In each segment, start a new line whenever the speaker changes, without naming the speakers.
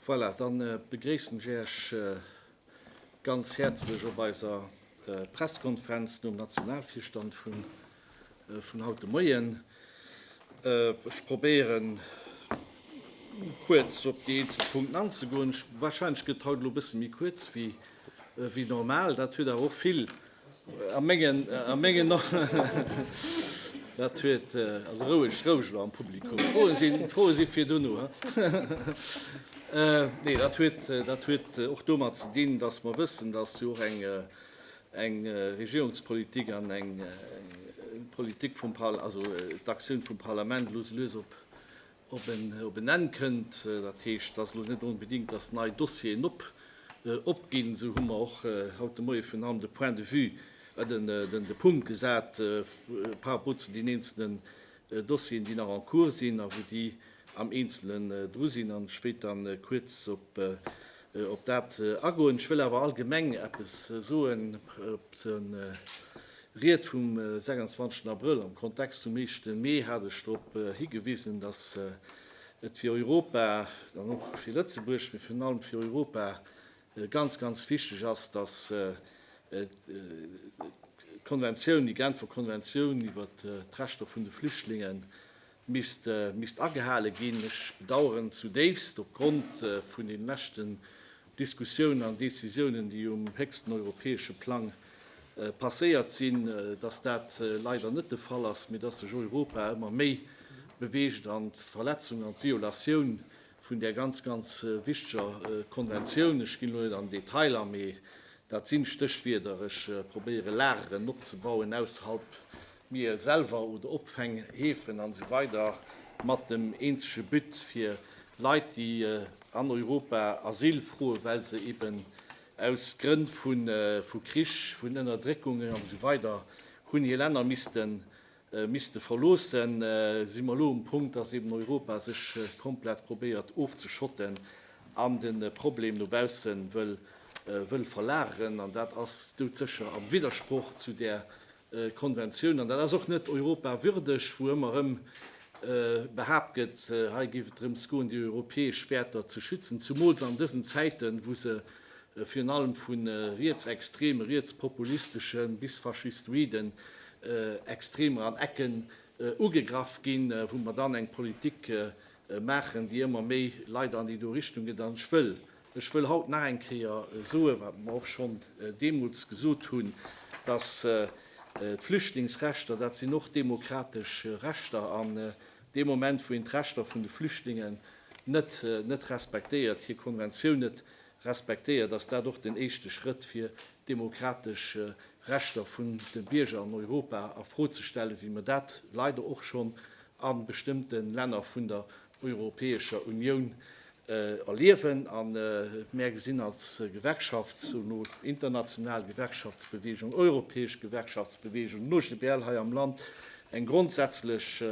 Voilà, dann begréissen ech Äech ganz häerzlech op eiser Presskonferenz nom Nationalvirstand vun Vun haut de Moien. Ech probéieren, kuerz op déi eenzel Punkten anzegoen. Warscheinlech gëtt haut elo e bësse méi kuerz wéi normal. Dat huet awer och vill, a mengen, a mengen och, dat huet, also roueg, roueg elo am Publikum. D'Froe sinn, d'Froe si fir dono, hein. Nee, dat huet, dat huet och domat ze dinn, dass mer wëssen, dass jo och eng Eng Regierungspolitik an eng Politik vum Par-, also d'Aktioun vum Parlament elo esou lues op, op en, op en Enn kënnt. Dat heescht, dass elo net onbedéngt, dass nei Dossieren op, opginn. Esou hu mer och haut de Moie vun hannen de Point de vue, den, den, de Punkt gesat par rapport zu den eenzelne Dossieren, déi nach en cours sinn a wou déi am Eenzelen dru sinn. An ech wéilt da kuerz op dat agoen. Ech wëll awer allgemeng eppes soen op d'Ried vum 26 Abrëll. Am Kontext vum éischte Mee hat ech drop higewisen, datt et fir Europa an och fir Lëtzebuerg, mee virun allem fir Europa, Ganz, ganz wichteg ass, dass d'Konventioun, déi Genfer Konventioun iwwer d'Rechter vun de Flüchtlinge misst, misst agehale ginn. Ech bedauern zudéifst, op Grond vun deene leschten Diskussiounen an Décisiounen, déi um héchsten europäesche Plang passéiert sinn, dass dat leider net de Fall ass, mee dass sech Europa ëmmer méi beweegt an d'Verletzung an d'Violatioun vun där ganz, ganz wichteger Konventioun. Ech ginn elo net an den Detail a, mee dat sinn Stéchwierder. Ech probéieren, Lageren opzebauen ausserhalb mir selwer oder Opfänghäfen an esou weider mat dem eenzege But, fir Leit, déi an Europa Asyl froen, well se eben aus Grënn vu Krich, vun Ënnerdréckungen an esou weider hunn hir Länner missten misste verloossen, si mer elo um Punkt, dass eben Europa sech komplett probéiert ofzeschotten an de Problem no bausse wëll verlageren. An dat ass doudsécher am Widdersproch zu där Konventioun. An dat ass och net Europa würdeg, wou ëmmer erëm behaapt gëtt, hei géif et drëms goen, déi europäesch Wäerter ze schützen, zumools an dësen Zäiten, wou se virun allem vu rietsextreme, rietspopulistesche bis faschistoide Extremer an Ecken ugegraff ginn, wou mer dann eng Politik maachen, déi ëmmer méi leider an déi do Richtung geet. An ech wëll, ech wëll haut nach eng Kéier soen, wat mer och schonn deemools gesot hunn, dass d'Flüchtlingsrechter, dat sinn och demokratesch Rechter. An dee Moment, wou een d'Rechter vun de Flüchtlingen net respektéiert, hir Konventioun net respektéiert, dass dat och den éischte Schrëtt fir d'demokratesch Rechter vun de Bierger an Europa a Fro ze stellen, wéi mer dat leider och schonn a bestëmmte Länner vun der Europäescher Unioun erliewen. A mär gesinn als Gewerkschaft, sono International Gewerkschaftsbewegung, Europäesch Gewerkschaftsbewegung, OGBL hei am Land, eng grondsätzlech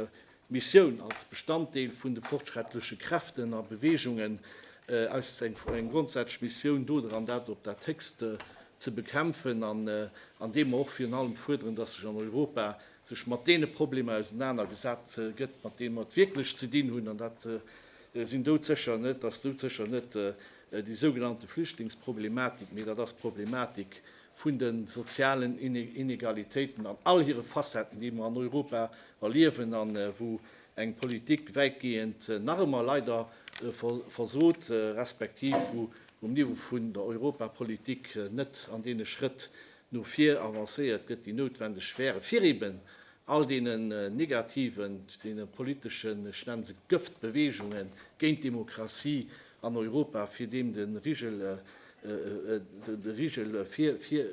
Missioun als Bestanddeel vun de fortschrettleche Kräften a Beweegungen aus eng grondsätzlech Missioun dodran, dat op dat Héchste ze bekämpfen, an deem mer och virun allem fuerderen, dass sech an Europa sech mat deene Problemer ausenanergesat gëtt, mat deene mer wierklech ze dinn hunn, an dat sinn doudsécher net, ass doudsécher net déi sougenannte Flüchtlingsproblematik, mee dat ass d'Problematik vun de sozialen Inegalitéiten an all hire Facetten, déi mer an Europa erliewen a wou eng Politik wäitgehend nach ëmmer leider versot, respektiv wou um Niveau vun der Europapolitik net an deene Schrëtt no vir avancéiert gëtt, déi noutwendeg wären, fir eben all deene negativen, deene politeschen, ech nenne se Gëftbeweegungen géint d'Demokratie an Europa, fir deem de Rigel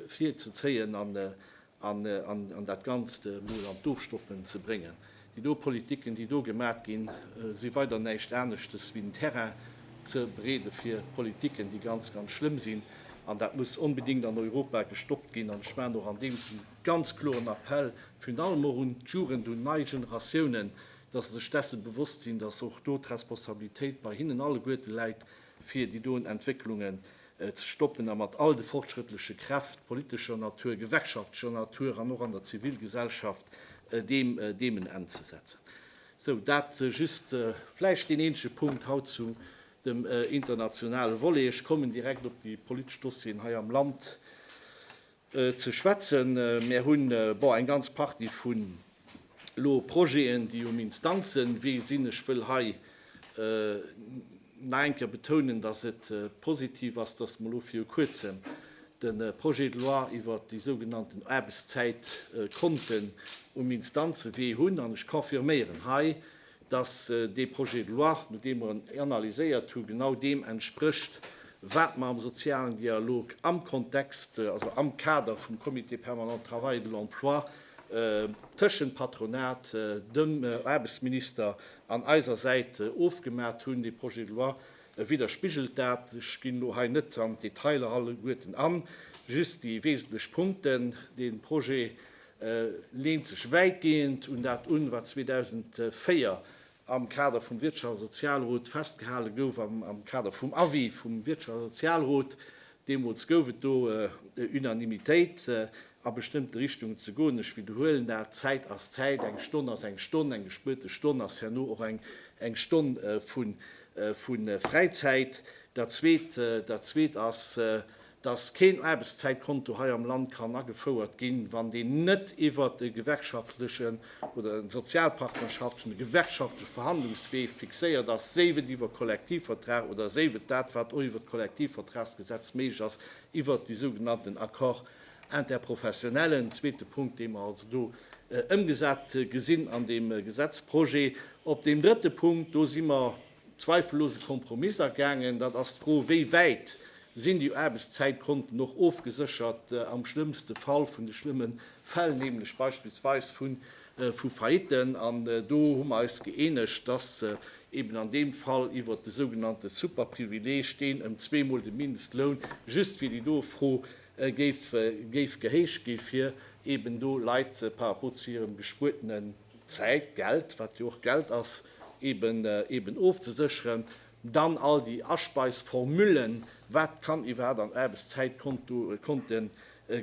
virzezéien an dat Ganzt emol an d'Ofstoppen ze bréngen. Déi do Politiken, déi do gemat ginn, si weider näischt aneschtes wéi den Terrain ze bereede fir Politiken, déi ganz, ganz schlëmm sinn. An dat muss onbedéngt an Europa gestoppt ginn. An ech maachen och an deem Sinn e ganz kloren Appell virun allem och un d'Jugend, un nei Generatiounen, dass se sech dessen bewosst sinn, dass och do d'Responsabilitéit bei hinnen alleguerte läit, fir déi doen Entwécklungen ze stoppen a mat all de fortschrëttleche Kräft politescher Natur, gewerkschaftlecher Natur an och an der Zivilgesellschaft deem deem en Enn ze setzen. Sou, dat just vläicht deen eenzege Punkt haut zu dem internationale Volet. Ech kommen direkt op déi politesch Dossieren hei am Land. ze schwätzen. Mär hunn, bon, eng ganz Partie vun elo Projeten, déi um Instanzenwee sinn. Ech wëll hei nach eng Kéier betounen, dass et positiv ass, dass mer elo viru Kuerzem de Projet de loi iwwert déi sougenannten Aarbechtszäit konnten um Instanzewee hunn. An ech confirméieren hei, dass dee Projet de loi, nodeem mer en analyséiert hu, genau deem entsprécht, wat mer am sozialen Dialog am Kontext, also am Kader vum Comité permanent travail et de l'emploi tëschent Patronat, dem Aarbechtsminister an eiser Säit ofgemat hunn. Dee Projet de loi widderspigelt dat. Ech ginn elo hei net an d'Detailer alleguerten an, just déi wesentlech Punkten. Dee Projet E leent sech wäitgehend un dat un, wat 2004 am Kader vum Wirtschafts a Sozialrot festgehale gouf, am Kader vum Avis vum Wirtschafts a Sozialrot. Deemools gouf et do Unanimitéit, a bestëmmte Richtungen ze goen. Ech widderhuelen dat, Zäit ass Zäit, eng Stonn ass eng Stonn, eng gespuerte Stonn ass herno och eng Stonn vu Fräizäit. Dat Zweet ass, dass keen Aarbechtszäitkonto hei am Land kann agefouert ginn, wann deen net iwwert e gewerkschaftlechen oder e sozialpartnerschaftlechen, e gewerkschaftleche Verhandlungswee fixéiert ass, séif et iwwer Kollektivvertrag oder séif et dat, wat och iwwer d'Kollektivvertragsgesetz méiglech ass, iwwert déi sougenannten Accords interprofessionnels. En zweete Punkt, dee mer also do ëmgesat gesinn an deem Gesetzprojet. Op deem drëtte Punkt, do si mer, zweifellose Kompromiss agaangen. Dat ass d'Fro, wéi wäit sinn déi Aarbechtszäitkonten och ofgeséchert am schlëmmste Fall vun de schlëmme Fäll, nämlech beispillsweis vu Faillitten. An do hu mer eis gëeenegt, dass eeben an deem Fall iwwert de sougenannte Superprivileeg, deen ëm zweemol de Mindestloun just fir déi doe Fro géif gehéicht ginn, fir eeben do Leit par rapport zu hirem gespuertene Zäit, Geld, wat jo och Geld ass, eben ofzesécheren. Dann all déi Aspeisformullen, wat kann iwwerhaapt an Aarbechtszäitkonte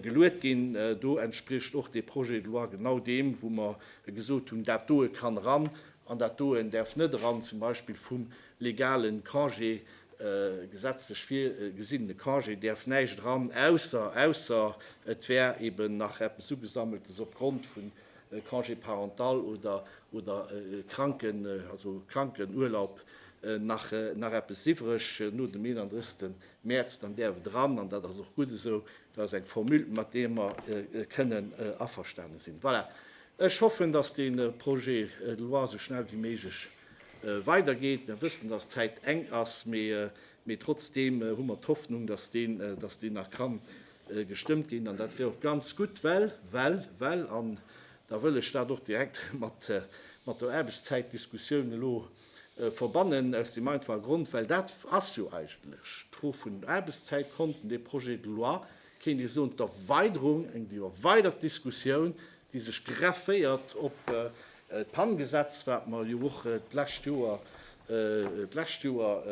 geluet ginn. Do entspricht och dee Projet de loi genau deem, wou mer gesot hunn, dat doe kann eran an dat doen däerf net eran, zum Beispill vum legale Congé, gesetzlech virgesinnene Congé däerf näischt eran, ausser et wär eben nach eppes ugesammeltes opgrond vun Congé parental oder Krankenurlaub nach eppes iwwreg no dem 31. Mäerz, dann däerf et eran. An dat ass och gutt esou. Dat ass eng Formule, mat där mer kënnen averstane sinn. Voilà, ech hoffen, dass dee Projet de loi esou schnell wéi méiglech weidergeet. Mir wëssen, dass d'Zäit enk ass, mee trotzdeem hu mer d'Hoffnung, dass deen nach kann gestëmmt ginn, an dat wier och ganz gutt, well, well, well, an da wëll ech dat och direkt mat, mat der Aarbechtszäitdiskussioun elo verbannen, aus deem einfache Grond, well dat ass jo eigentlech d'Fro vun den Aarbechtszäitkonten, dee Projet de loi, kéint ee soen, d'Erweiderung, eng erweidert Diskussioun, déi sech grefféiert op d'PAN-Gesetz, wat mer jo och d'lescht Joer, d'lescht Joer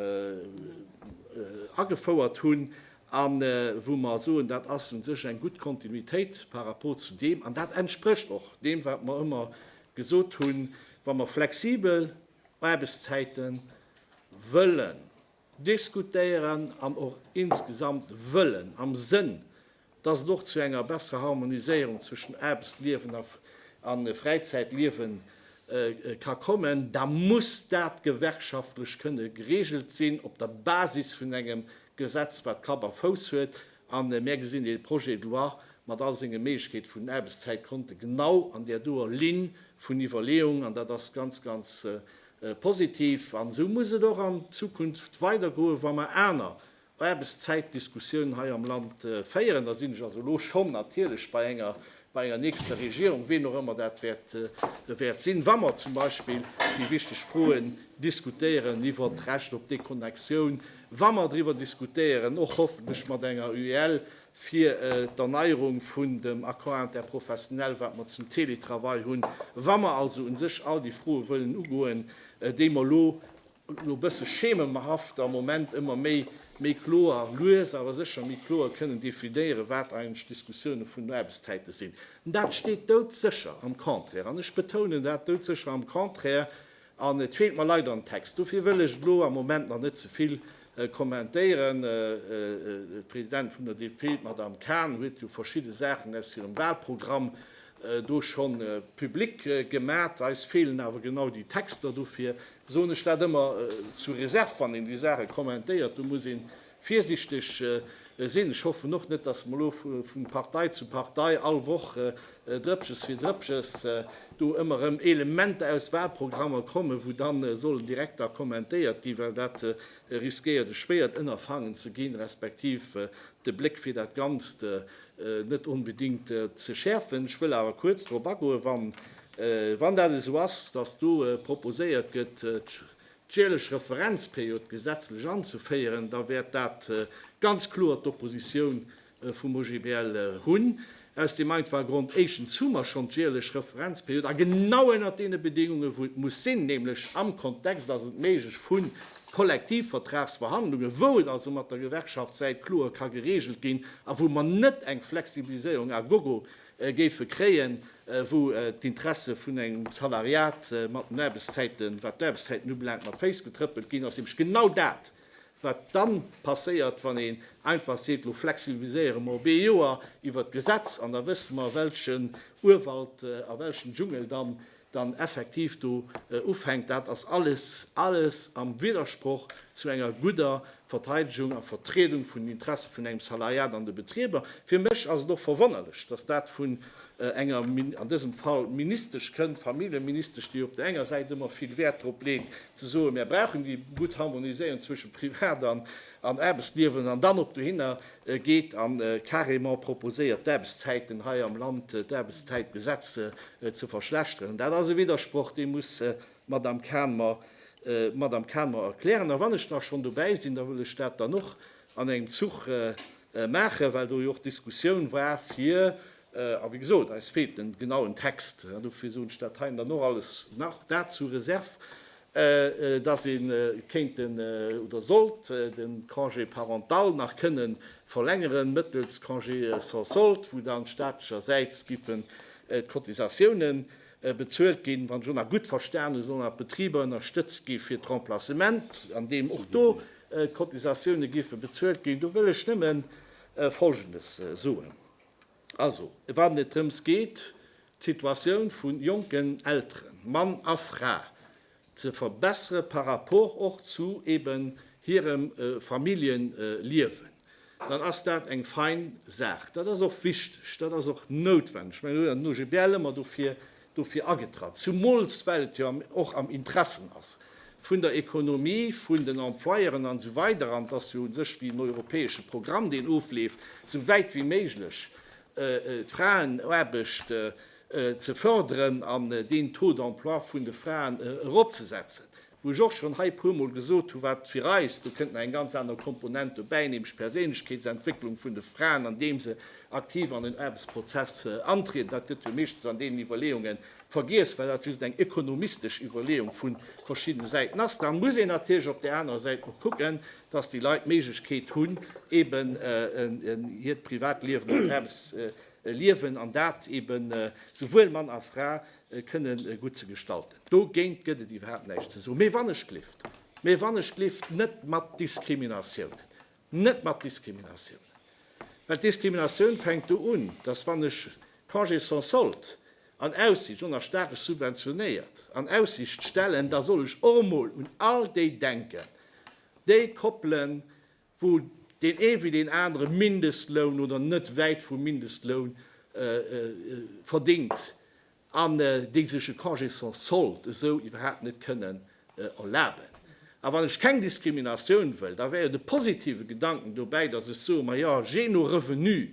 agefouert hunn. a wou mer soen, dat ass u sech eng gutt Kontinuitéit par rapport zu deem, an dat entsprécht och deem, wat mer ëmmer gesot hunn, wa mer flexibel Aarbechtszäite wëllen diskutéieren an och insgesamt wëllen am Sënn, dass et och zu enger besserer Harmoniséierung zwëschen Aarbechtsliewen a Fräizäitliewe ka kommen, da muss dat gewerkschaftlech kënne geregelt sinn op der Basis vun engem Gesetz wat Kapp a Fouss huet a mär gesinn dee Projet de loi mat all senge Méiglechkeete vun den Aarbechtszäitkonte genau an där doer Linn vun Iwwerleeung an dat ass ganz, ganz positiv. An esou muss et och an Zukunft weidergoen, wa mer aner Aarbechtszäitdiskussiounen hei am Land féieren. Da sinn ech also elo schonn natierlech bei enger bei enger nächster Regierung, ween och ëmmer dat wäert sinn, wa mer zum Beispill déi wichteg Froen diskutéieren iwwert d'Recht op Deconnexion, wa mer driwwer diskutéieren, och hoffentlech mat enger UEL, fir d'Erneierung vun dem Accord interprofessionnel, wat mer zum Teletravail hunn, wa mer also u sech all déi Froe wëllen ugoen, déi mer elo, No bësse schememerhaft am Moment ëmmer méi méi kloer, lues awer sécher méi kloer kënnen definéieren, wat eigentlech d'Diskussioune vun den Aarbechtszäite sinn. Dat steet doudsécher am Contraire, an ech betounen dat, doudsécher am Contraire, an et feelt mer leider am Text. Dofir wëll ech et elo am Moment nach net ze vill kommentéieren. D'Presidentin vun der DP, d'Madame Cahn, huet jo verschidde Saachen aus hirem Wahlprogramm do scho public gemat. Eis feelen awer genau déi Texter dofir. soen ech dat ëmmer sous réserve, wann een déi Saache kommentéiert, do muss ee virsichteg sinn. Ech hoffen och net, datt mer elo vu Partei zu Partei all Woch Drëppches fir Drëppches do ëmmer erëm Elementer aus Wahlprogrammer kommen, wou dann sollen direkt da kommentéiert ginn, well dat riskéiert e schwéiert Ënnerfangen ze ginn, respektiv de Bléck fir dat Ganzt net onbedéngt ze schäerfen. Ech wëll awer kuerz drop agoen, wann, wann dat esou ass, dass do proposéiert gëtt, d'jäerlech Referenzperiod gesetzlech anzeféieren, da wäert dat ganz kloer d'Oppositioun vum OGBL hunn, aus deem einfache Grond, éischtens hu mer schonn d'jäerlech Referenzperiod, a genau ënnert deene Bedéngungen, wou et muss sinn, nämlech am Kontext, ass et méiglech, vun Kollektivvertragsverhandlungen, wou et also mat der Gewerkschaftssäit kloer ka geregelt ginn a wou mer net eng Flexibiliséierung à gogo géife kréien, wou d'Interesse vun engem Salariat mat den Aarbechtszäiten, wat d'Aarbechtszäiten ubelaangt, mat Féiss getrëppelt ginn, ass nämlech genau dat, wat dann passéiert, wann een einfach seet, elo flexibiliséiere mer op ee Joer iwwert d'Gesetz an da wësse mer, welchen Urwald a welchen Dschungel dann dann effektiv do ufänkt, dat ass alles, alles am Widdersproch zu enger gudder Verteidegung a Vertriedung vun den Interesse vun engem Salariat an de Betrieber. Fir mech ass et och verwonnerlech, dass dat vun enger, an dësem Fall, Ministesch kënnt, Familljeministesch, déi op där enger Säit ëmmer vill Wäert drop leet ze soen, Mär brauchen déi gutt Harmoniséierung zwësche Privat an Aarbechtsliewen an dann op dohinner geet a carrément proposéiert d'Aarbechtszäiten hei am Land, d'Aarbechtszäitgesetz ze verschlechteren. Dat ass e Widdersproch, dee muss d'Madame Cahn mer, Madame Cahn mer erklären. A wann ech da schonn dobäi sinn, da wëll ech dat dann och an engem Zuch maachen, well do jo och d'Diskussioun war fir, a wéi gesot, eis feelt de genauen Text, dofir soen ech dat hei dann och alles nach, dat sous réserve, dass ee kéint oder sollt de Congé parental nach kënne verlängeren mëttels Congé sans solde, wou dann staatlechersäits giffen d'Cotisatiounen bezuelt ginn, wann ech och nach gutt verstanen hu, sollen nach d'Betriber ënnerstëtzt gi fir d'Remplacement, an deem och do d'Cotisatioune giffe bezuelt ginn. Do wëll ech nëmme Folgendes soen. Also, wann et drëms geet, d'Situatioun vu jonken Elteren, Mann a Fra, ze verbessere par rapport och zu eben hirem Familljenliewen, dann ass dat eng fein Saach. Dat ass och wichteg, dat ass och noutwendeg. Ech mengen, elo an den OGBL ëmmer dofir dofir agetratt, zumools well et jo och am Interessen ass vun der Economie, vun den Employeuren an esou weider an et ass jo u sech wéi en europäesche Programm deen ofleeft, esou wäit wéi méiglech d'Fraenaarbecht ze förderen an deen Taux d'emploi vun de Fraen eropzesetzen. Wou ech och schonn hei puermol gesot hu wat fir eis, do kënnt nach eng ganz aner Komponent dobäi, nämlech d'Perséinlechkeetsentwécklung vun de Fraen, andeem se aktiv an den Aarbechtsprozess antrieden. Dat gëtt jo meeschtens an deenen Iwwerleeunge vergiess, well dat just eng ekonomistesch Iwwerleeung vu verschiddene Säiten ass. Da muss een natierlech op där anerer Säit och kucken, datt déi Leit d'Méiglechkeet hunn, eben hiert Privatliewen an d'Aarbechtsliewen, an dat eben souwuel Mann a Fra, kënne gutt ze gestalten. Dogéint gëtt et iwwerhaapt näischt ze soen. Mee wann ech gelift, mee wann ech gelift, net mat Diskriminatiounen, net mat Diskriminatiounen! Well d'Diskriminatioun fänkt do un, dass wann ech Congé sans solde an Aussicht, ënner staatlech subventionéiert, an Aussicht stellen, da soll ech och emol un all déi denken, déi Koppelen, wou deen ee wéi deen anere Mindestloun oder net wäit vum Mindestloun verdéngt an déi sech e Congé sans solde esou iwwerhaapt net kënnen erlaben. A wann ech keng Diskriminatioun wëll, da wär jo de positive Gedanken dobäi, datt ech soe, majo, jee no Revenu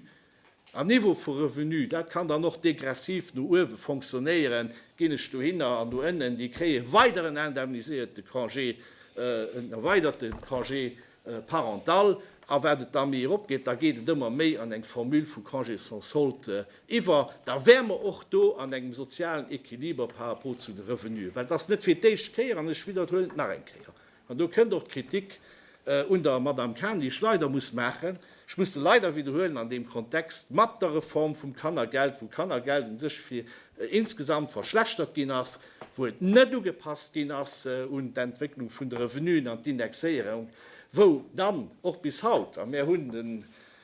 En Niveau vu Revenu, dat kann dann och degressiv no uewe fonctionnéieren, ginn ech dohinner an do ënnen, déi kréie weideren indemniséierte Congé, en erweiderte Congé parental. A wat et da méi erop geet, da geet et ëmmer méi an eng Formule vu Congé sans solde iwwer. Da wäre mer och do an engem sozialen Equiliber par rapport zu de Revenuen, well et ass net fir d'éischt Kéier, an ech widderhuelen et nach eng Kéier, An do kënnt och d'Kritik un der Madame Cahn, déi ech leider muss maachen, ech muss se leider widderhuelen an deem Kontext, mat der Reform vum Kannergeld, wou Kannergeld u sech fir insgesamt verschlechtert ginn ass, wou et net ugepasst ginn ass un d'Entwécklung vun de Revenuen an d'Indexéierung, wou dann och bis haut, a mär hunn den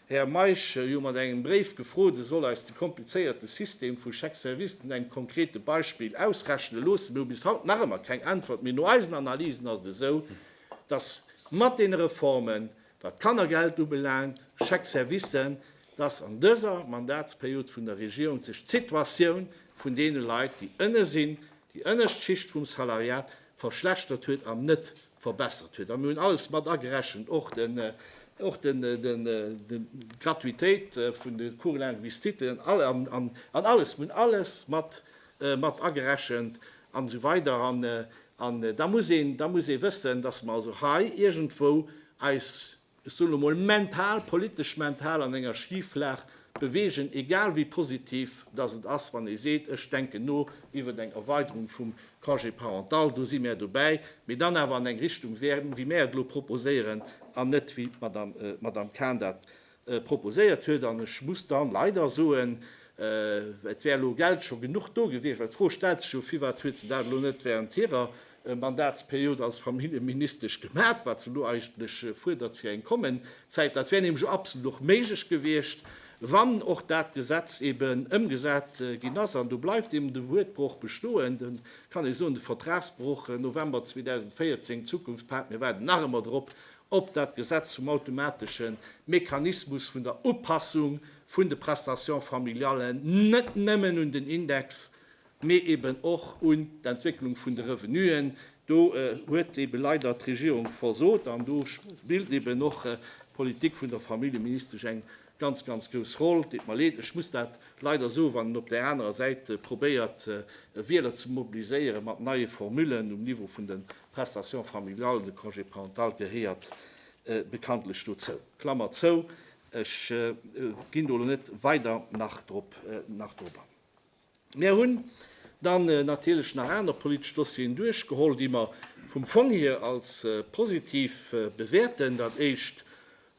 Här Meisch, ech hu mat engem Bréif gefrot, e soll eis de komplizéierte System vu Chèques-services un engem konkrete Beispill ausrechne loossen. Mir hu bis haut nach ëmmer keng Äntwert. Mee no eisen Analysen ass et esou, dass mat deene Reformen, wat d'Kannergeld ubelaangt, Chèques-servicen, dass an dëser Mandatsperiod vun der Regierung sech d'Situatioun vun deene Leit, déi ënne sinn, déi ënnescht Schicht vum Salariat verschlechtert huet an net verbessert huet, a mir hunn alles mat agerechent, och d'Gratuitéit vun de Cours linguistique an alles, mir hunn alles mat agerechent an esou weider. An da muss ee wëssen, datt mer also hei iergendwou eis ech soen elo mol mental, politesch mental an enger Schiflag bewegen, egal wéi positiv datt et ass, wann ee seet, ech denken no iwwert eng Erweiderung vum Congé parental, do si mär dobäi, mee dann awer an eng Richtung wäerten, wéi mär et elo proposéieren, an net wéi d'Madame Kahn dat proposéiert huet. An ech muss dann leider soen, et wär elo Geld scho genuch do gewiescht, well d'Fro stellt sech jo, firwat huet se dat elo net während hirer Mandatsperiod als Familljeministesch gemat, wat se elo eigentlech fuerdert fir eng kommen Zäit. Dat wär nämlech absolut och méiglech gewiescht, wann och dat Gesetz eben ëmgesat ginn ass. An do bleift eben de Wuertbroch bestoen, do kann ee soen, de Vertragsbroch, November 2014, d'Zukunftspak, mir waarden nach ëmmer drop, op dat Gesetz zum automatesche Mechanismus vun der Upassung vun de Prestations familiallen net nëmmen un den Index, mee eben och un d'Entwécklung vun de Revenuen. Do huet ebe leider d'Regierung versot an do spillt eben och d'Politik vun der Familljeministesch eng ganz, ganz grouss Roll. Deet mer leed, ech muss dat leider soen, wann een op där anerer Säit probéiert, Wieler ze mobiliséiere mat neie Formullen um Niveau vun de Prestations familiales, de Congé parental gehéiert bekanntlech dozou. Klammer zou. Ech ginn do elo net weider nach drop an. Mär hunn dann natierlech nach aner politesch Dossieren duerchgeholl, déi mer vum Fong hier als positiv bewäerten. Dat éischt,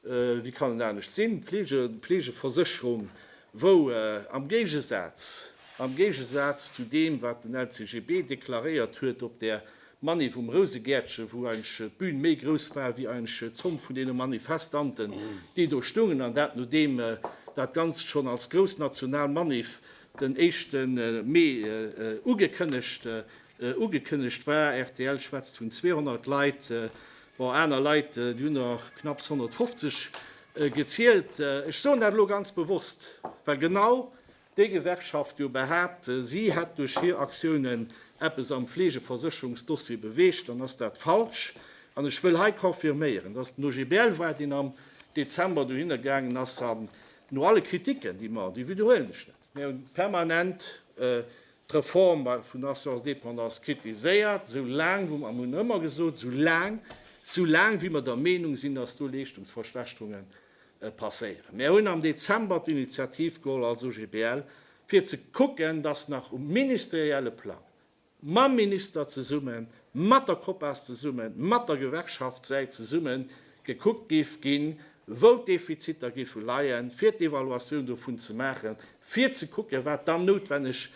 wéi kann et anescht sinn, d'Fleegeversécherung, wou am Géigesaz, am Géigesaz zu deem, wat den LCGB deklaréiert huet op där Manif um Rousegäertchen, wou eigentlech d'Bühn méi grouss war wéi eigentlech d'Zomm vun deene Manifestanten, déi do stoungen, an dat nodeem dat Ganzt schonn als grouss national Manif den éischte Mee ugekënnegt ugekënnegt war. Rtl schwätzt vun 200 Leit, bon aner Leit, déi hunn der knapps 150 gezielt. Ech soen dat elo ganz bewosst, well genau Déi Gewerkschaft jo behaapt, si hätt duerch hir Aktiounen eppes am Fleegeversécherungsdossier beweegt, dann ass dat falsch. An ech wëll hei confirméieren, dass den OGBL war, deen am Dezember dohinner gaangen ass an no alle Kritiken, déi mer, déi wiederhuelen ech net, mir hu permanent d'Reform vun der Assurance dépendance kritiséiert, esou laang wou mer, mir hunn ëmmer gesot, esou laang, esou laang wéi mer der Meenung sinn, dass do Leeschtungsverschlechterungen passéieren. Mär hunn am Dezember d'Initiativ geholl als OGBL, fir ze kucken, dass nach um ministerielle Plang, mam Minister zesummen, mat der Copas zesummen, mat der Gewerkschaftssäit zesummen, gekuckt géif ginn, wou d'Defiziter géife leien, fir d'Evaluatioun dovun ze maachen, fir ze kucken, wat dann noutwenneg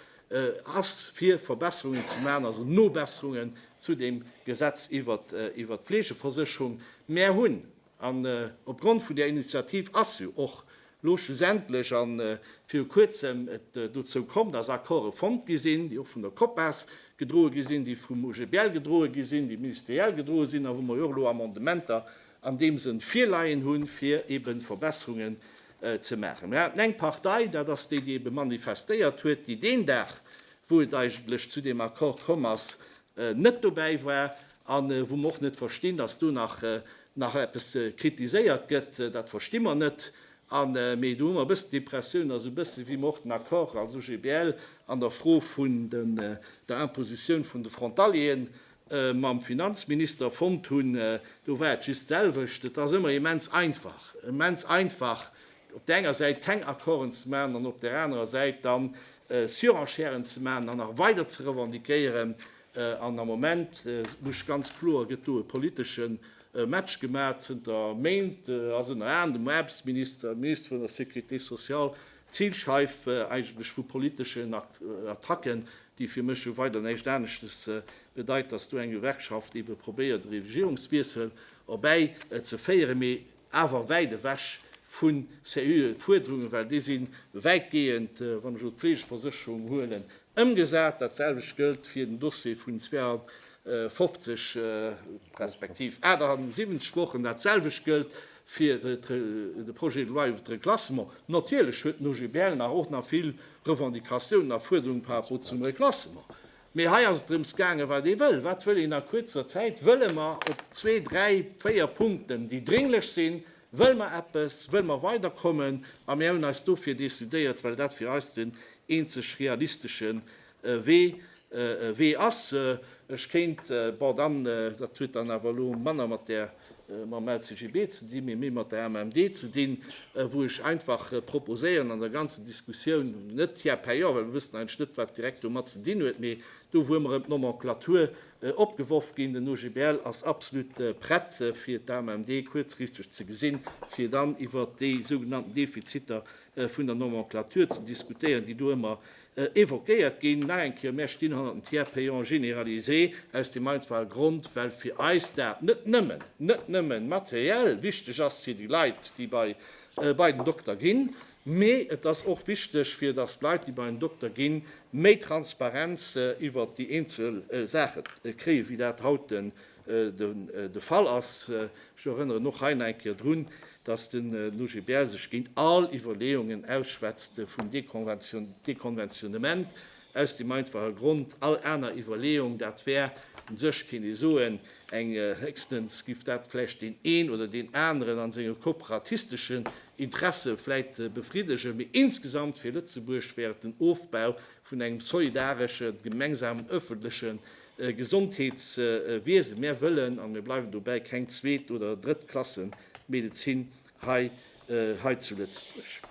ass, fir Verbesserungen ze maachen, also Nobesserungen zu deem Gesetz iwwert d'Fleegeversécherung. Mär hunn. An opgrond vun där Initiativ ass jo och lo schlussendlech a viru Kuerzem et dozou komm, dass Accorde fonnt gi sinn, déi och vun der Copas gedroe gi sinn, déi vum OGBL gedroe gi sinn, déi ministeriell gedroe sinn a wou mer jo och elo Amendementer an deem Sënn virleien hunn, fir eeben Verbesserungen ze maachen. Mir haten eng Partei, dat ass déi, déi eebe manifestéiert huet, déi deen Dag, wou et eigentlech zu deem Accord komm ass, net dobäi war. a wou mer och net verstinn, dass do nach eppes kritiséiert gëtt, dat versti mer net. Mee do hu mer e bëssen d'Impressioun, also e bësse wéi mer och den Accord als OGBL an der Fro vun der Impositioun vun de Frontalieren mam Finanzminister fonnt hunn, do war et just d'selwecht. Et ass ëmmer immens einfach, immens einfach op där enger Säit keng Accorden ze maachen an op där anerer Säit dann Surenchèren ze maachen an nach weider ze revendiquéieren, An am Moment, muss ech ganz kloer, gëtt do e politesche Match gemaach. Zënter Méint ass ënner anerem dem Aarbechtsminister, dem Minister vun der Sécurité sociale d'Zilscheif eigentlech vu politeschen Attacken, déi fir mech jo weider näischt aneschtes bedeit, datt do eng Gewerkschaft ebe probéiert, e Regierungswiessel erbäi ze féieren. Mee awer wäit ewech vu seriöe Fuerderungen, well déi si wäitgehend, wann ech elo d'Fleegeversécherung huelen, ëmgesat. Dat selwecht gëllt fir den Dossier vun 52 respektiv 78 Wochen, dat selwecht gëllt fir de Projet de loi iwwert de Reklassement. Natierlech huet den OGBL nach och nach vill Revendicatiounen a Fuerderungen par rapport zum Reklassement. Mee hei ass et drëms gaangen, wat ee wëll. Wat wëll een a kuerzer Zäit? Wëlle mer op zwee, dräi, véier Punkten, déi drénglech sinn, wëll mer eppes, wëll mer weiderkommen? A mir hunn eis dofir decidéiert, well dat fir eis den eenzeg realistesche Wee ass. Ech kéint, bon dann, dat huet dann awer elo manner mat där mam LCGB ze dinn, mee méi mat der AMMD ze dinn, wou ech einfach proposéieren an der ganzer Diskussioun, net hier payant, well mir wëssen eigentlech net, wat direkt domat ze dinn huet, mee do, wou ëmmer erëm d'Nomenclature opgeworf ginn, den OGBL ass absolut prett, fir d'AMMD kuerzfristeg ze gesinn, fir dann iwwert déi sougenannten Defiziter vun der Nomenclature ze diskutéieren, déi do ëmmer Evoquéiert ginn. Nach eng Kéier, Mär stinn hannert dem Tiers payant généralisé aus deem einfache Grond, well fir eis dat net nëmmen, net nëmmen materiell wichteg ass fir déi Leit, déi bei, bei den Dokter ginn, mee et ass och wichteg, fir dass d'Leit, déi bei en Dokter ginn, méi Transparenz iwwert déi eenzel Saache kréien, wéi dat haut de de Fall ass. Ech erënneren och hei eng Kéier drun, dass den OGBL sech géint all Iwwerleeungen ausschwätzt vum Dekonventionnement, aus deem einfache Grond, all aner Iwwerleeung, dat wär u sech, kéint ee soen, eng, héchstens giff dat vläicht deen een oder deen aneren a senge korporatistesche Interesse vläicht befriddegen, mee insgesamt fir Lëtzebuerg wär et den Ofbau vun engem solidaresche gemengsamen öffentleche Gesondheetswiesen. Mär wëllen, an mär bleiwen dobäi, keng zweet oder Drëttklassen-Medezin hei, hei zu Lëtzebuerg.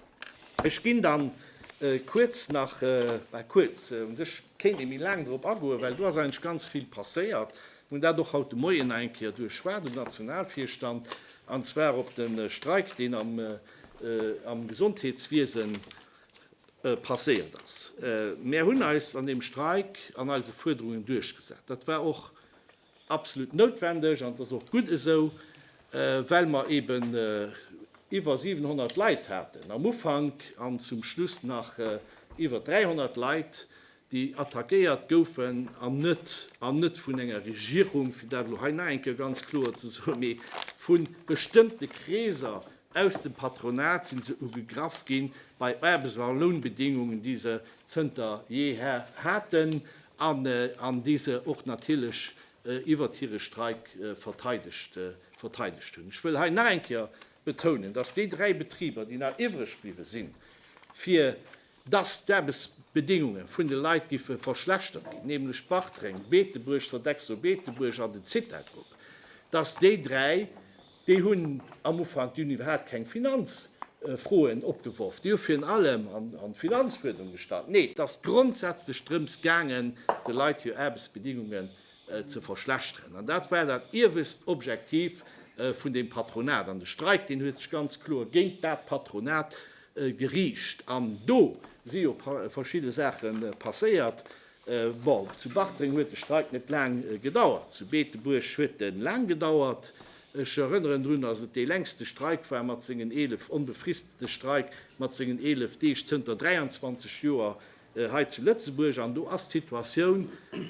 Ech ginn dann kuerz nach, bah, kuerz, u sech kéint ee méi laang drop agoen, well do ass eigentlech ganz vill passéiert. Mir hunn dat och haut de Moien nach eng Kéier duerchschwat um Nationalvirstand, an zwar op de Streik, deen am, am Gesondheetswiesen, passéiert ass. Mär hunn eis an deem Streik an eise Fuerderungen duerchgesat. Dat war och absolut noutwendeg an et ass och gutt esou, well mer eben iwwer 700 Leit haten am Ufank an zum Schluss nach iwwer 300 Leit, déi attackéiert goufen, an net, an net vun enger Regierung, fir dat elo hei nach eng Kéier ganz kloer ze soen, mee vu bestëmmte Kreeser aus dem Patronat si se ugegraff ginn, bei Aarbechts a Lounbedingungen, déi se zënter jeher haten an déi se och natierlech iwwert hire Streik verteidegt, verteidegt hunn. Ech wëll hei nach eng Kéier betounen, dass déi dräi Betriber, déi nach iwwreg bliwwe sinn, fir dass d'Aarbechtsbedingunge vun de Leit géife verschlechtert ginn, nämlech Bartreng, Beetebuerg, Sodexo Beetebuerg an den Zitagrupp, dass déi dräi, déi hunn am Ufank, déi hunn iwwerhaupt keng Finanzfroen opgeworf, déi hu virun allem an d'Finanzfuerderung gestallt, nee, et ass grondsätzlech drëms gaangen, de Leit hir Aarbechtsbedingungen ze verschlechteren. An dat war dat iewescht Objektiv vun deem Patronat. An de Streik, deen huet sech ganz kloer géint dat Patronat Geriicht an do si jo verschidde Saache passéiert. Bon, zu Bartreng huet de Streik net laang gedauert, zu Beetebuerg huet e laang gedauert. Ech erënneren drun, datt et dee längste Streik war mat sengen 11, onbefristete Streik mat sengen 11 Deeg zënter 23 Joer hei zu Lëtzebuerg. An do ass d'Situatioun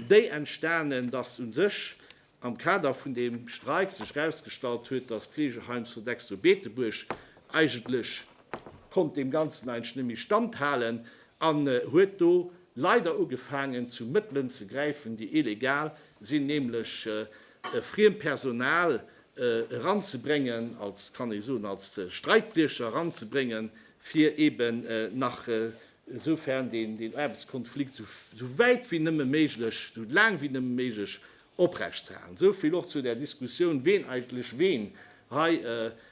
déi entstanen, datt u sech am Kader vun deem Streik sech erausgestallt huet, dass d'Fleegeheim Sodexo Beetebuerg eigentlech konnt deem Ganzen eigentlech net méi standhalen an huet do leider ugefaangen zu Mëttelen ze gräifen, déi illegal sinn, nämlech friem Personal eranzebréngen, als, kann ee soen, als Streikbriecher eranzebréngen, fir eeben nach esoufern deen Aarbechtskonflikt esou wäit wéi nëmme méiglech, esou laang wéi nëmme méiglech oprecht ze halen. Esou vill och zu där Diskussioun, ween eigentlech ween hei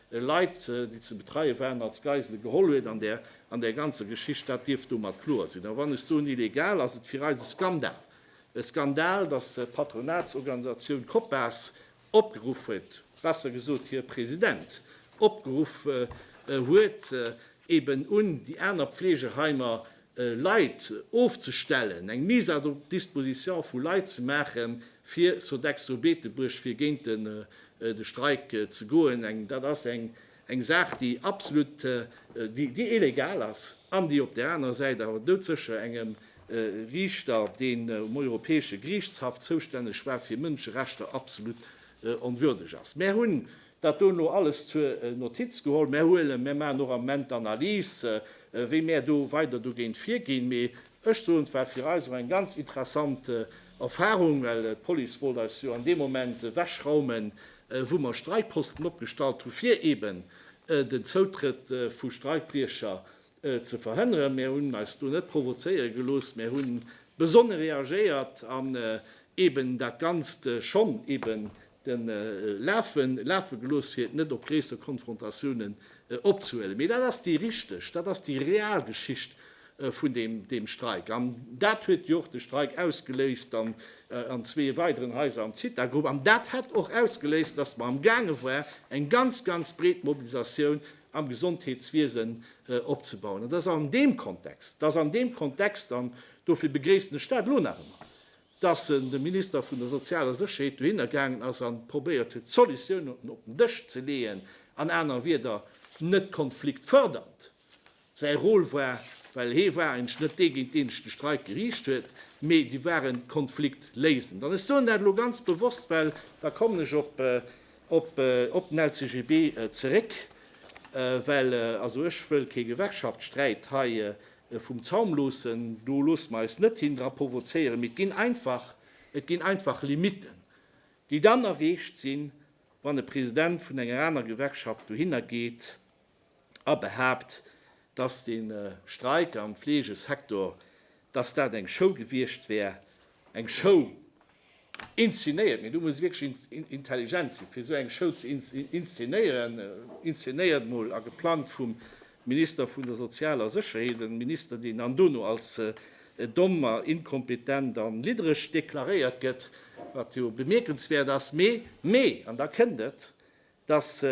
Leit, déi ze betreie waren, als Geisele geholl huet an där ganzer Geschicht. Dat dierft domat kloer sinn. A wann ech soen illegal, ass et fir eis e Skandal, e Skandal, datt d'Patronatsorganisatioun Copas Opgeruff huet, besser gesot hir President opgeruff huet, eben un déi aner Pflegeheimer Leit ofzestellen, eng Mise à disposition vu Leit ze maache fir Sodexo Beetebuerg, fir géint de Streik ze goen. Dat ass eng Eng Saach, déi absolut, déi illegal ass an déi op där anerer Säit awer doudsécher engem Riichter, deen um Europäesche Geriichtshaff zoustänneg war fir Mënscherechter, absolut onwürdeg ass. Mär hunn dat dono alles zur Notiz geholl. Mär huelen, mär maachen och am Moment d'Analys, wéi mär do weider dogéint virginn. Mee ech soen, et war fir eis och eng ganz interessant Erfahrung, well d'Police wollt eis jo an deem Moment ewechraumen, wou mer Streikposten opgestallt hu fir eben den Zoutrëtt vu Streikbriecher ze verhënneren. Mir hunn eis do net provozéiere gelooss, mir hu besonne reagéiert an eben dat Ganzt schonn eben lafe gelooss, fir et net op gréisser Konfrontatiounen opzehuelen. Mee dat ass déi richteg, dat ass déi real Geschicht vun deem Streik. An dat huet jo och de Streik ausgeléist an zwee weideren Haiser am Zithagrupp. An dat hätt och ausgeléist, datt mer am gaange war, eng ganz, ganz breet Mobilisatioun am Gesondheetswiesen opzebauen. An dat ass an deem Kontext, dat ass an deem Kontext, an dofir begréissen ech dat elo nach ëmmer, datt de Minister vun der sozialer Sécherheet dohinner gaangen ass a probéiert huet, Solutiounen op den Dësch ze leeën, an aner Wieder, net konfliktfördernd, Säi Rôle war, well hee war eigentlech net dee géint deen ech de Streik geriicht huet, mee déi waren d'Konfliktléisend. An ech soen dat elo ganz bewosst, well, da kommen ech op den LCGB zeréck, well also ech wëll kee Gewerkschaftssträit hei vum Zaum loossen, do loosse mer eis net hin dra provozéieren, mee et ginn einfach Limiten, déi dann erreecht sinn, wann e President vun enger aner Gewerkschaft dohinner geet. a behaapt, datt de Streik am Fleegesektor, datt dat eng Show gewiescht wär, eng Show inzenéiert. Mee do muss ee wierklech intelligent sinn, fir esou eng Show ze inzenéieren. Inzenéiert mol a geplangt vum Minister vun der sozialer Sécherheet, e Minister, deen an dono als domm a inkompetent a liddereg deklaréiert gëtt, wat jo bemierkenswäert ass. Mee, mee, an da kënnt et, dass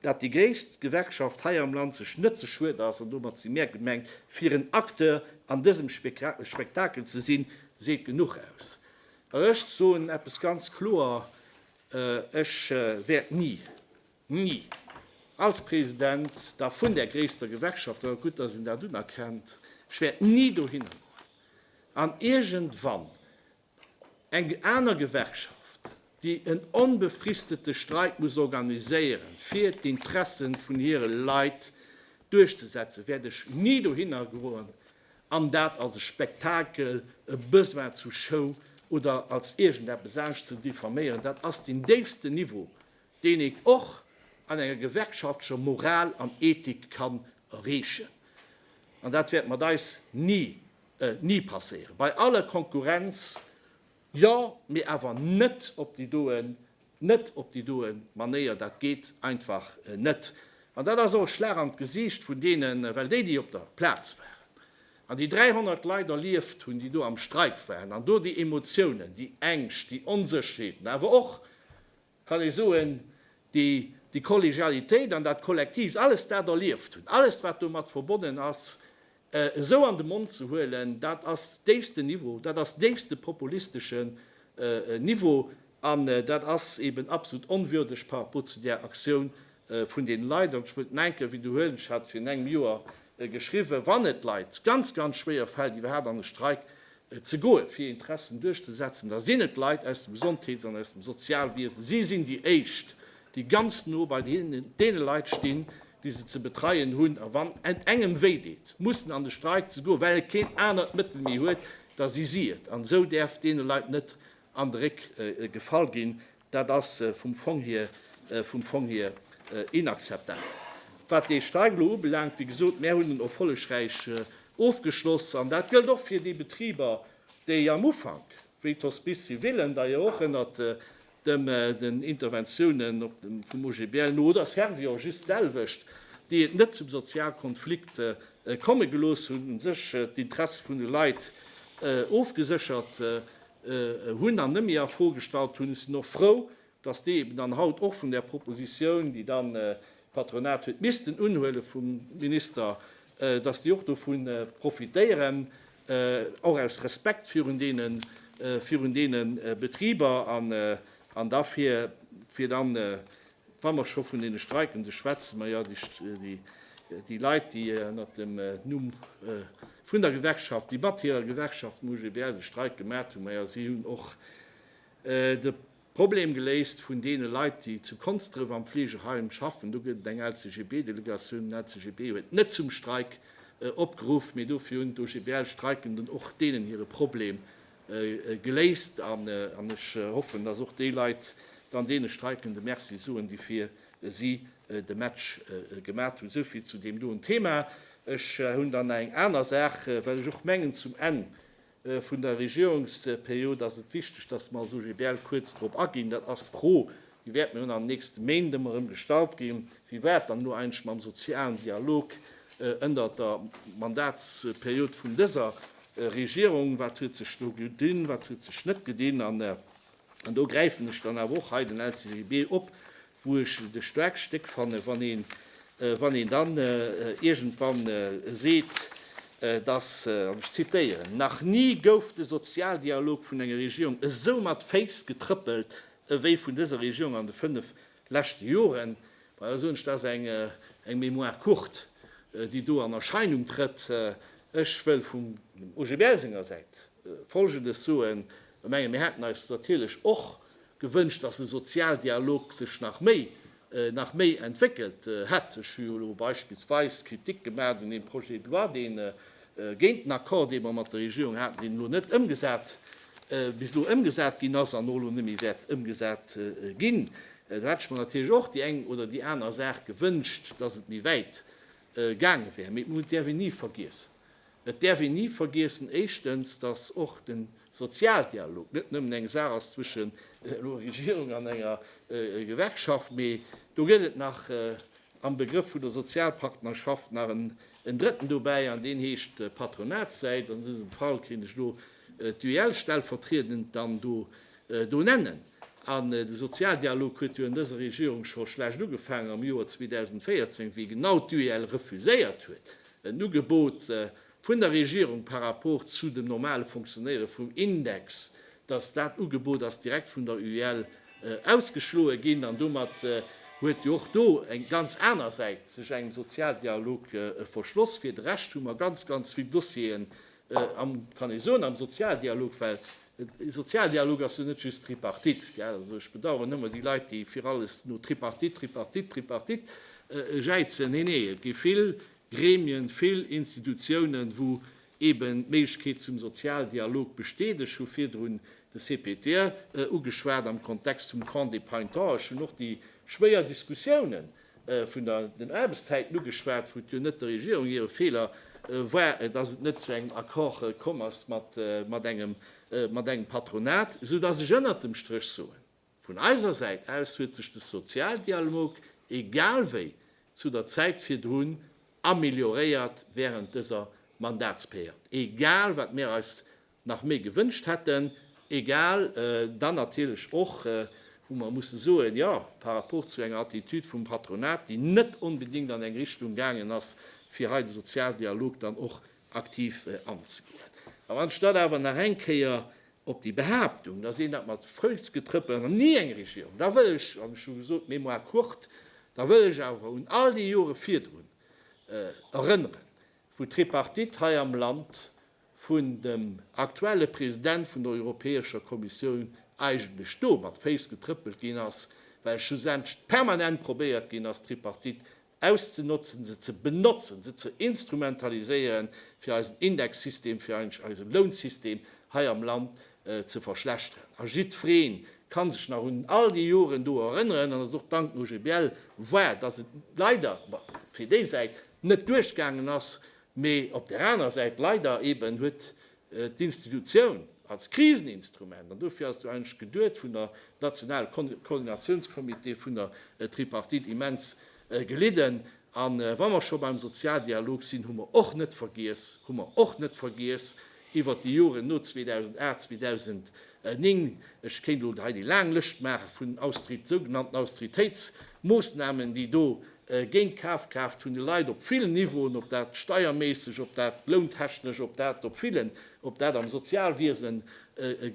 dat déi gréisst Gewerkschaft hei am Land sech net ze schued ass, an domat si mär gemengt, fir en Acteur an dësem Spektakel ze sinn, seet genuch aus. A ech soen eppes ganz kloer, Ech wäert ni, ni als President da vun där gréisster Gewerkschaft, an et ass gutt, dass een dat unerkennt, ech wäert ni dohinner goen an iergendwann Eng aner Gewerkschaft, déi en onbefristete Streik muss organiséieren, fir d'Interessen vun hire Leit duerchzesetzen, wäert ech ni dohinner goen an dat als e Spektakel, e Besoin zu Show oder als iergendeppes anescht ze diffaméieren. Dat ass den déifsten Niveau, deen een och an enger gewerkschaftlecher Moral an Ethik kann erreechen. An dat wäert mat eis ni ni passéieren. Bei aller Konkurrenz, jo, mee awer net op déi doen, net op déi doen Manéier. Dat geet einfach net. An dat ass och e Schlag an d'Gesiicht vun deenen, well déi, déi op der Plaz waren an déi 300 Leit erlieft hunn, déi do am Streik waren an do déi Emotiounen, déi Ängscht, déi Onsécherheeten, awer och kann ee soen, déi déi Kollegialitéit an dat Kollektiivt, alles dat erlieft hunn, alles wat domat verbonnen ass, esou an de Mond ze huelen, dat ass déifsten Niveau, dat ass déifste populisteschen Niveau an dat ass eeben absolut onwürdeg par rapport zu där Aktioun, vun den Leit, an ech wëll d'Menke widderhuelen, ech hat virun engem Joer geschriwwen, wann et Leit ganz, ganz schwéier fält iwwerhaapt an e Streik ze goen, fir hir Interessen duerchzesetzen, da sinn et d'Leit aus dem Gesondheets an aus dem Sozialwiesen. Si sinn déi éischt, déi ganz no bei deene Leit stinn, déi se ze betreien hunn, a wann et engem wéi deet, mussen an de Streik ze goen, well e keen anert Mëttel méi huet, da si si et, an esou däerf deene Leit net an de Réck gefall ginn. Dat ass vum Fong hier, vum Fong hier inakzeptabel. Wat dee Streik elo ubelaangt, wéi gesot, mär hunn en erfollegräich ofgeschloss. An dat gëllt och fir déi Betriber, déi am Ufank, wéi d'Hospices civilen, da jo och ënnert dem, den Interventiounen op dem, vum OGBL no, oder Servior, just d'selwecht, déi et net zum Sozialkonflikt komme gelooss hunn, u sech d'Interesse vun de Leit ofgeséchert hunn an nëmme a Fro gestallt hunn, sinn och frou, dass déi eben dann haut och vun där Proposition, déi dann d'Patronat huet missten unhuele vum Minister, dass déi och dovu profitéieren, och aus Respekt virun deene Betriber an da fir dann Wa mer scho vun deene Streikende schwätzen, maja, déi Leit, déi ënnert dem Numm vun der Gewerkschaft, déi mat hirer Gewerkschaft dem UGBL de Streik gemat hunn, maja, si hunn och de Problem geléist vun deene Leit, déi zu Konsdref am Fleegeheim schaffen. Do gëtt et eng LCGB-Delegatioun. Den LCGB huet net zum Streik opgeruff, mee dofir hunn d'OGBL-Streikenden och deenen hire Problem geléist an ech hoffen, dass och déi Leit dann deene Streikende Merci soen, déi fir si de Match gemat hunn. Esou vill zu deem doen Thema. Ech hunn dann nach eng aner Saach, well ech och mengen, zum Enn vun der Regierungsperiod ass et wichteg, dass mer als OGBL kuerz drop aginn, dat ass d'Fro Déi wäerten dann an den nächste Méint ëmmer erëm gestallt ginn. Wéi war et dann elo eigentlech mam sozialen Dialog ënnert der Mandatsperiod vun dëser Regierung? Wat huet sech do gedinn, wat huet sech net gedinn? An do gräifen ech dann awer och hei den LCGB op, wou ech et e staarkt Stéck fannen, wann een dann iergendwann seet, dass, an ech zitéieren, Nach ni gouf de Sozialdialog vun enger Regierung esou mat Féiss getrëppelt ewéi vun dëser Regierung an de fënnef leschte Joren. Bei eis soen ech, dat ass eng Mémoire courte, déi do an Erscheinung trëtt. Ech wëll vum OGBL senger Säit Folgendes soen, Ech menge mir haten eis natierlech och gewënscht, dass de Sozialdialog sech nach méi nach méi entwéckelt hätt. Ech hu jo elo beispillsweis Kritik gemaat un deem Projet de loi, dee géint den Accord, dee mer mat der Regierung haten, deen elo net ëmgesat, bis elo ëmgesat ginn ass an och elo net méi wäert ëmgesat ginn. Do hätt ech mer natierlech och déi eng oder déi aner Saach gewënscht, dass et méi wäit gaange wär. Mee d'Mut däerf een ni vergiessen. Et däerf een ni vergiessen, éischtens, datt och de Sozialdialog net nëmmen eng Saach ass zwëschen elo Regierung an enger Gewerkschaft, mee do gëtt et nach am Begrëff vun der Sozialpartnerschaft nach en drëtten dobäi, an deen heescht d'Patronatssäit. An dësem Fall kéint ech do d'UEL stellvertriedend dann do do nennen. An de Sozialdialog huet jo an dëser Regierung scho schlecht ugefaangen am Joer 2014, wéi genau d'UEL refuséiert huet, en Ugebot vun der Regierung par rapport zu dem normale Fonctionnéiere vum Index, dass dat Ugebot ass direkt vun der UEL ausgeschloe ginn. An domat huet jo och do eng ganz aner Säit sech engem Sozialdialog verschloss. Fir de Rescht hu mer ganz, ganz vill Dossieren am, kann ee soen, am Sozialdialog, well De Sozialdialog ass jo net just Tripartite, gell? Also ech bedauern ëmmer déi Leit, déi fir alles no Tripartite, Tripartite, Tripartite jäizen. Nee, nee, et gi vill Gremien, vill Institutiounen, wou eeben d'Méiglechkeet zum Sozialdialog besteet. Ech hu virdrun de CPTR ugeschwat am Kontext vum Camp des Painteurs. Ech hunn och déi schwéier Diskussiounen Vun den Aarbechtszäiten ugeschwat, wou et jo net der Regierung hire Feeler war, dass et net zu engem Accord komm ass mat engem Patronat, esou dass ech ënnert dem Stréch soen, Vun eiser Säit aus huet sech de Sozialdialog egal wéi zu der Zäit virdrun amelioréiert während dëser Mandatsperiod, egal wat mir eis nach méi gewënscht hätten, egal dann natierlech och, wou mer musse soen, jo, par rapport zu enger Attitüd vum Patronat, déi net onbedéngt an eng Richtung gaangen ass, fir hei de Sozialdialog dann och aktiv anzegoen. An anstatt awer nach eng Kéier op déi Behaaptung, dass een dat mat Foussgetrëppel an ni eng Regierung, da wëll ech, ech hu gesot, mémoire courte, da wëll ech awer un all déi Jore virdrun erënneren, wou d'Tripartite hei am Land vun dem aktuelle President vun der Europäescher Kommissioun eigentlech do mat Féiss getrëppelt ginn ass, well schlussendlech permanent probéiert ginn ass, d'Tripartite auszenotzen, se ze benotzen, se ze instrumentaliséieren, fir eisen Indexsystem, fir eigentlech eise Lounsystem hei am Land ze verschlechteren. A jiddweree ka sech nach un all déi Joren do erënneren, an et ass och dank dem OGBL wahr, dass et leider fir déi Säit net duerchgaangen ass, Mee op där aner Säit, leider eben, huet d'Institutioun als Kriseninstrument, an dofir ass et jo eigentlech geduet, vun der nationale Koordinationscomité, vun der Tripartite immens gelidden. A wa mer scho beim Sozialdialog sinn, hu mer och net vergiess, hu mer och net vergiess, iwwert déi Joren no 2008, 2009, ech kéint elo hei déi laang Lëscht maachen vun sougenannten Austeritéitsmoosnamen, déi do géint d'Kafkraaft vun de Leit op villen Niveauen, ob dat steierméisseg, ob dat lountechnesch, ob dat op villen, ob dat am Sozialwiesen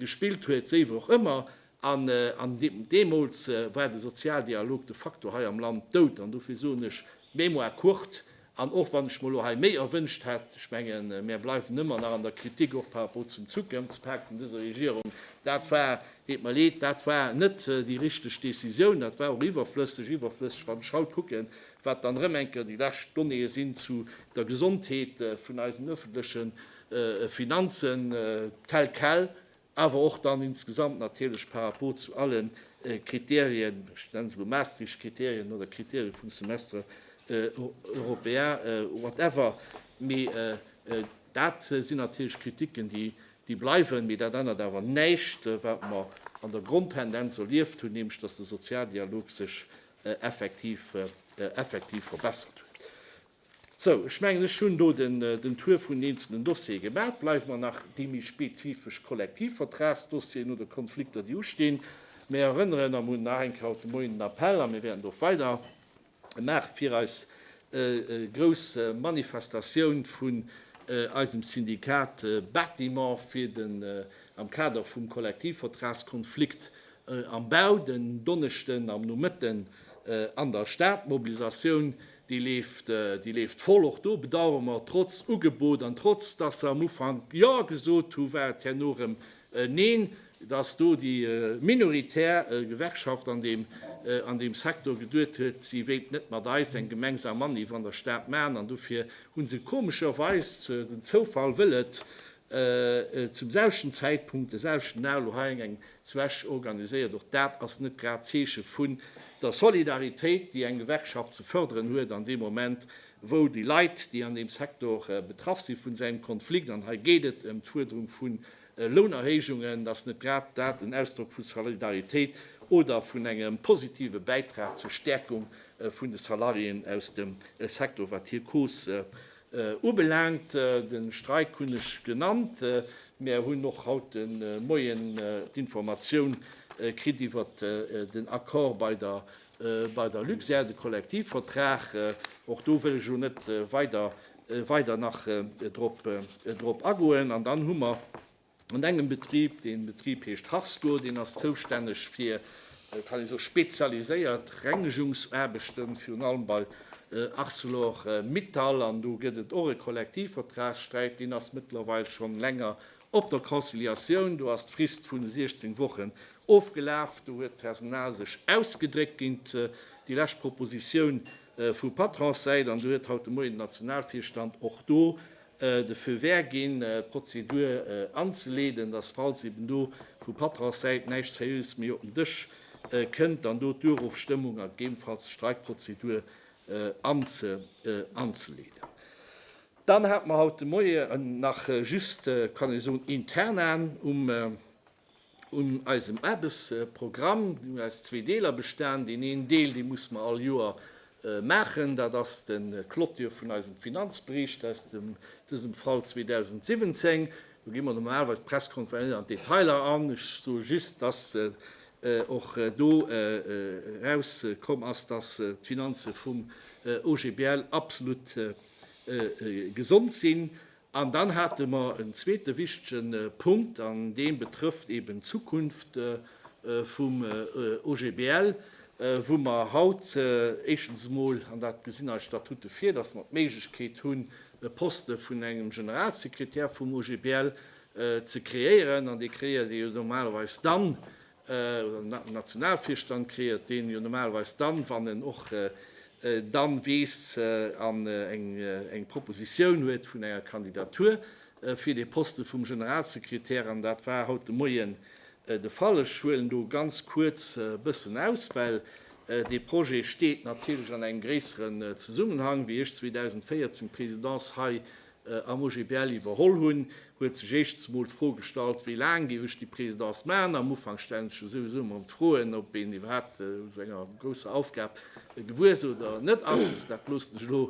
gespillt huet, wéi och ëmmer. An deemools war de Sozialdialog de facto hei am Land dout. An dofir soen ech, mémoire courte. An och wann ech mer elo hei méi erwünscht hätt, ech mengen, mär bleiwen ëmmer nach an der Kritik, och par rapport zum Zukunftspak vun dëser Regierung, dat war Deet mer leed, dat war net déi richteg Décisioun. Dat war och iwwerflësseg. Iwwerflësseg, wann ech haut kucken, wat dann erëm enker déi lescht Donnéeë sinn zu der Gesondheet vun eisen öffentliche Finanzen tel quel, awer och dann insgesamt natierlech par rapport zu alle Kriterien, ech nenne se elo Maastricht-Kriterien oder Kriterien vum Semestre européen, whatever. Mee dat sinn natierlech Kritiken, déi Déi bleiwen, mee dat ännert awer näischt, wat mer an der Grondtendenz erlieft hunn, nämlech datt de Sozialdialog sech effektiv verbessert huet. Sou, ech mengen, ech hunn do den Tour vun den eenzelnen Dossiere gemaach. Et bleiwen der nach déi méi spezifesch Kollektivvertragsdossieren oder Konflikter, déi ustinn. Mir erënneren, a mir hunn nach eng Kéier haut de Moien en Appell a mir wäerten do och weider, Maach fir eis grouss Manifestatioun vun eisem Syndikat Bâtiment fir den am Kader vum Kollektivvertragskonflikt am Bau den Donneschden am Nomëtten an der Stad. D'Mobilisatioun déi leeft, déi leeft voll. Och do bedauere mer, trotz Ugebot an trotz dass se am Ufank Jo gesot hu war et herno erëm Een Neen, dass do déi minoritär Gewerkschaft an deem Secteur geduet huet, si wéilt net mat eis eng gemengsam Manif an der Stad maachen, an dofir hu se komescherweis, den Zoufall wëll et, zum selwechten Zäitpunkt, de selwechten Dag, elo hei eng Zwäsch organiséiert. Och dat ass net grad d'Zeeche vun der Solidaritéit, déi eng Gewerkschaft ze förderen huet an deem Moment. wou déi Leit, déi an deem Sektor betraff sinn, vun engem Konflikt, an hei geet et ëm d'Fuerderung vun Lounerhéijungen, dass net grad dat en Ausdrock vu Solidaritéit oder vun engem positive Bäitrag zur Stäerkung vun de Salariéen aus dem Sektor, wat hir Cause ubelaangt. De Streik hunn ech genannt. Mär hunn och haut de Moien d'Informatioun kritt iwwert den Accord bei der Bei der Luxair, de Kollektivvertrag, och do wëll ech elo net weider nach drop agoen. An dann hu mer an engem Betrib, dee Betrib heescht Harsco, deen ass zoustänneg fir, kann ee soen, spezialiséiert Rengegungsaarbechten, virun allem bei Arcelor-Mittal. An do gëtt et och e Kollektivvertragssträit, deen ass mëttlerweil schonn länger Op der Conciliatioun, do ass d'Frist vun 16 Wochen ofgelaf, do huet d'Personal sech ausgedréckt géint déi lescht Propositioun vu Patronssäit an do huet haut de Moien den Nationalvirstand och do de Feu vert ginn, d'Prozedur anzeleeden, dass falls eben do vu Patronssäit näischt Seriöses méi op den Dësch kënnt, dann do d'Durofstëmmung a gegebenfalls d'Streikprozedur anzeleeden. Dann hat mer haut de Moien nach just, kann ee soen, Internan un eisem Aarbechtsprogramm. Deen huet aus zwee Deeler bestan. Deen een Deel, dee musse mer all Joer maachen, dat ass de Clôture vun eisem Finanzbericht aus dem, dësem Fall, 2017. Do gi mer normalerweis presque net an d'Detailer an. Ech soe just, dass och do erauskomm ass, dass d'Finanze vum OGBL absolut gesond sinn. An dann hate mer en zweete wichtige Punkt, an dee betrëfft eeben d'Zukunft vum OGBL, wou mer haut éischtens emol, an dat gesinn eis Statute vir, dass mer d'Méiglechkeet hunn, e Poste vun engem Generalsekretär vum OGBL ze kreéieren. An dee kreéiert ee jo normalerweis dann, Nationalvirstand kreéiert, deen jo normalerweis dann, wann en och dann weess an eng Propositioun huet vun enger Kandidatur fir dee Posten vum Generalsekretär, an dat war haut de Moien de Fall. Ech huelen do ganz kuerz e bëssen aus, well dee Projet steet natierlech an engem gréisseren Zesummenhang. Wéi ech 2014 d'Présidence hei am OGBL iwwerholl hunn, huet sech éischtens emol d'Fro gestallt, wéi laang géif ech déi Présidence maachen. Am Ufank stellen sech jo souwisou ëmmer erëm d'Froen, ob een iwwerhaapt esou enger grousser Aufgab gewuer ass oder net ass. Dat loossen ech elo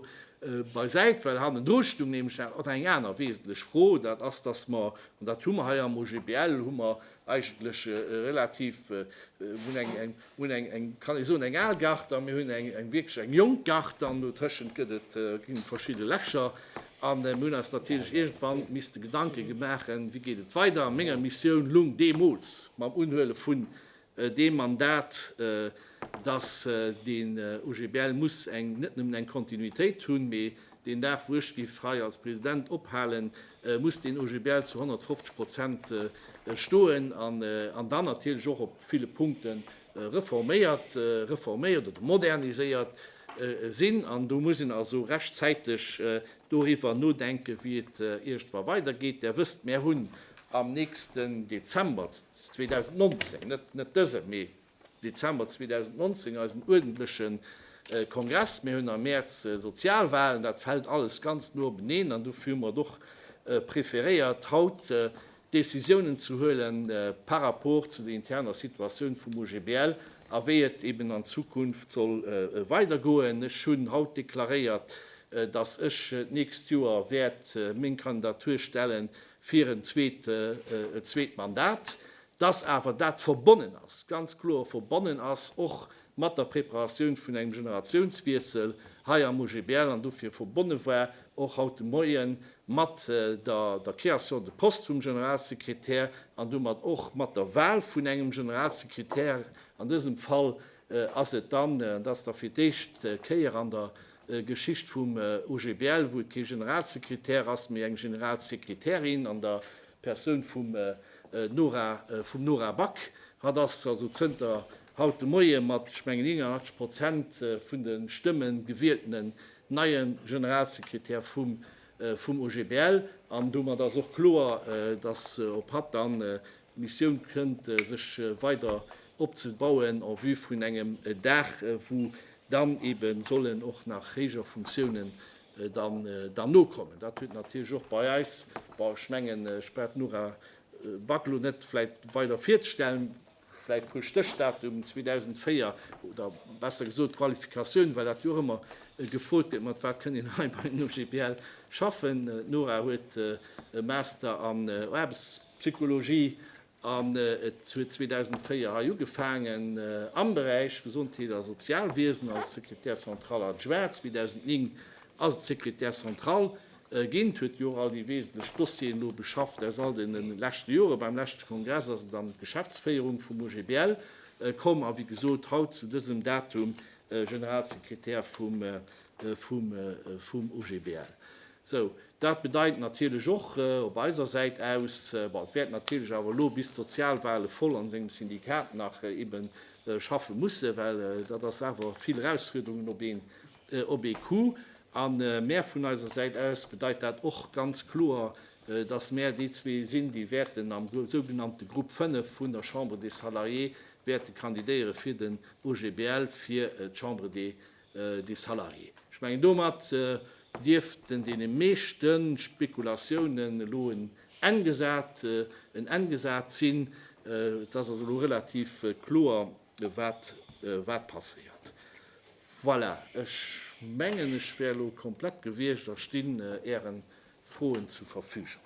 beisäit, well hannendru stung nämlech nach och eng aner wesentlech Fro, dat ass, dass mer, an dat hu mer hei am OGBL, hu mer eigentlech relativ, mir hunn eng Mir hunn eng, eng, kann ee soen, eng al Gare an mir hunn eng, eng wierklech eng jonk Gare an dotëschent gëtt et, ginn et verschidde Lächer. A mir hunn eis natierlech iergendwann misste Gedanke gemaachen, wéi geet et weider. A menger Missioun lung deemools, mam Unhuele vun deem Mandat, dass den OGBL muss eng, net nëmmen eng Kontinuitéit hunn, mee Deen Dag wou ech giff hei als President ophalen, muss deen OGBL zu 150 Prozent stoen an dann natierlech och op ville Punkte reforméiert, reforméiert oder moderniséiert sinn. An do muss een also rechtzäiteg doriwwer nodenken, wéi et iergendwa weidergeet. Där wësst, mär hunn am nächsten Dezember 2019, net dëse, mee Dezember 2019 eisen uerdentleche Kongress, mir hunn am Mäerz Sozialwahlen, dat fält alles ganz no openeen an dofir hu mer et och preferéiert, haut Decisiounen ze huele par rapport zu der interner Situatioun vum OGBL a wéi et eben an Zukunft soll weidergoen. Ech hunn haut deklaréiert, dass ech d'nächst Joer wäert meng Kandidatur stelle fir en zweet Mandat. dass awer dat verbonnen ass, ganz kloer verbonnen ass och mat der Preparatioun vun engem Generatiounswiessel hei am OGBL an dofir verbonne war och haut de Moie mat der Création de poste vum Generalsekretär an domat och mat der Wahl vun engem Generalsekretär. An dësem Fall ass et dann, an dat ass da fir d'éischt Kéier an der Geschicht vum OGBL, wou et kee Generalsekretär ass, mee eng Generalsekretärin an der D'Persoun vum Nora, vum Nora Back, hat ass also zënter haut de Moie mat, ech mengen, 81 Prozent vun de Stëmme gewieltene neie Generalsekretär vum vum OGBL. An domat ass och kloer, datt op hatt dann d'Missioun kënnt, sech weider opzebauen en vue vun engem Dag, wou dann eebe sollen och nach héijer Funktiounen dann nokommen. Dat huet natierlech och bei eis, bon, ech mengen, ech brauch d'Nora Back elo net vläicht weider virzestellen, vläicht e puer Stéchdatum, 2004, oder besser gesot d'Qualifikatioun, well dat jo och ëmmer gefrot gëtt, mat wat kënnt een hei bei den OGBL schaffen. D'Nora huet e Master an Aarbechtspsychologie An et huet 2004 hei ugefaangen am Beräich Gesondheet a Sozialwiesen als Secrétaire central adjoint. 2009 ass et Secrétaire central ginn, huet jo och all déi wesentlech Dossieren elo beschafft aus all deene leschte Jore. Beim leschte Kongress ass et an d'Geschäftsféierung vum OGBL komm a wéi gesot haut zu dësem Datum Generalsekretär vum OGBL. Sou, dat bedeit natierlech och op eiser Säit aus, bon, et wäert natierlech awer elo bis d'Sozialwale voll an sengem Syndikat nach ebe schaffe mussen, well dat ass awer vill Erausfuerderungen op een, op ee Coup. A mär vun eiser Säit aus bedeit dat och ganz kloer, dass mär déi zwee sinn, déi wäerten am sougenannte Grupp 5 vun der Chambre des Salariés wäerte kandidéiere fir den OGBL, fir d'Chambre des des salariés. Ech mengen, domat dierften deene meeschte Spekulatiounen elo en Enn gesat sinn. Et ass also elo relativ kloer, wat passéiert. Voilà, ech mengen, ech wär elo komplett gewiescht a stinn Äre Froen zur Verfügung.